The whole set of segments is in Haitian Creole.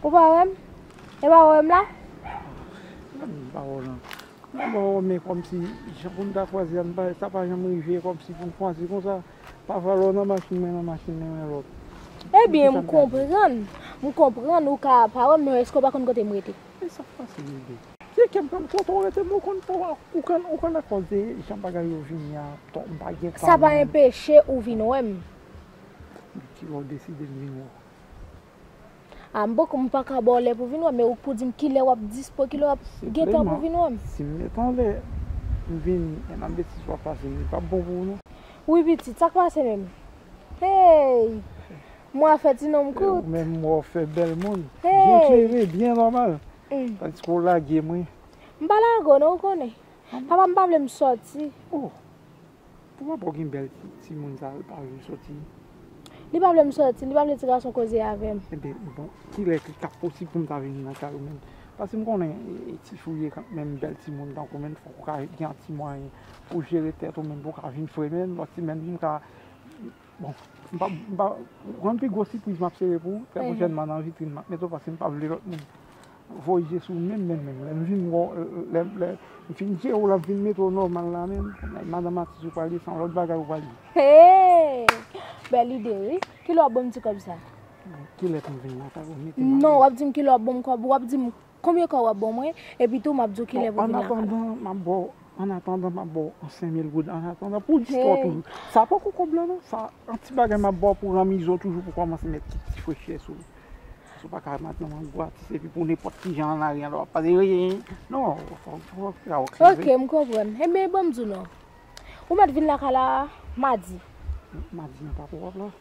Ou pa wèm? E pa wèm la? Ou pa wèm la? Ou pa wèm la kòm si jan pou nou ta kwaze an sa pa janm rive kòm si pou nou kwaze kon sa pa vwa lò nan machin mwen nan machin mwen nan lòt. E byen m konprann, m konprann ou ka pa wèm men èske ou pa konn kote m rete? E sa fasil rete? Ti ekèm pranm kote ou rete men ou konn fò ou konn ou konn akòz de jan bagay yo vini an to m pa gen Sa pa enpeche ou vin wè m. Men kilè ou deside m vin wè w. A m poko m paka ba w lè pou vin wè m men ou k pou di m kilè wap dispo kilè wap gen tan pou vin wè m. Sepleman si m met on lè m vini e nan betiz wap pase li pap bon pou ou non. Wi pitit sak pase menm. Hey mwa fè ti nonm kout. Ou menm mwa w fè bèl moun. Hey. Byen klere byen nòmal. Tandis ke w lage m wi. M pa lage w non ou konnen. Papa m pa vle m soti. Oh! Pou papa w gen bèl timoun sa l pa vle w soti? Li pa vle m soti, li pa vle ti gason koze avè m. Enben, bon, kilè ki ta posib pou m ta vini nan kay ou menm? Paske m konnen ti fi w ye kanmenm, bèl timoun tankou menm fòk ou ka gen yon ti mwayen pou w jere tèt ou menm pou w ka vin fre menm yon ti menm pou m ka. Bon, m pa, m pa, ou konn pi gwo sipriz m ap sere pou ou, trè pwochènman nan vitrin m ap mete w paske m pa vle lòt moun voye je sou ou menm menm menm. Lè m vin wè w, lè, lè m fin jere w la m fin mete w nòmal la menm, kòmè madanm atis ou pral ye se yon lòt bagay ou pral ye. Hey! Bèl ide wi. Kilè w ap ban m ti kòb sa? Kilè pou m vin lakay ou mete m alèz? Non, w ap di m kilè w ap ban m kòb ou, w ap di m. Konbyen kòb wap baw mwen epi tou map diw kilè pou vin lakay. Bon annatandan map baw annatandan map baw yon 5000 goud annatandan pou istwa toujou sa poko kòb lan non sa yon ti bagay map baw pou ranmizo toujou pou kòmanse met ti ti frechè sou li paskew paka ret nan yon gratis epi pou nenpòt kijan an lari an lè wap pase eyy non fòk fè yon ti ok m konprann enben banm diw non ou mèt vin lakay la madi. Madi an pako wap la.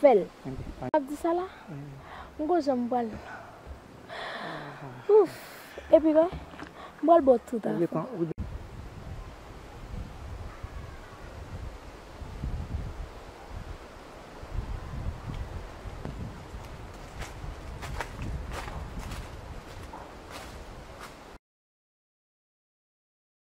fèl. Wap di sa la? M ko janm pral Ouff epi wè m pral baw tout afè.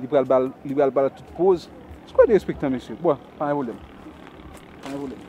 Li pral bal li pral bal tout poz. Sou pa derespektan mesye. Bon, pa gen pwoblèm. Pa gen pwoblèm.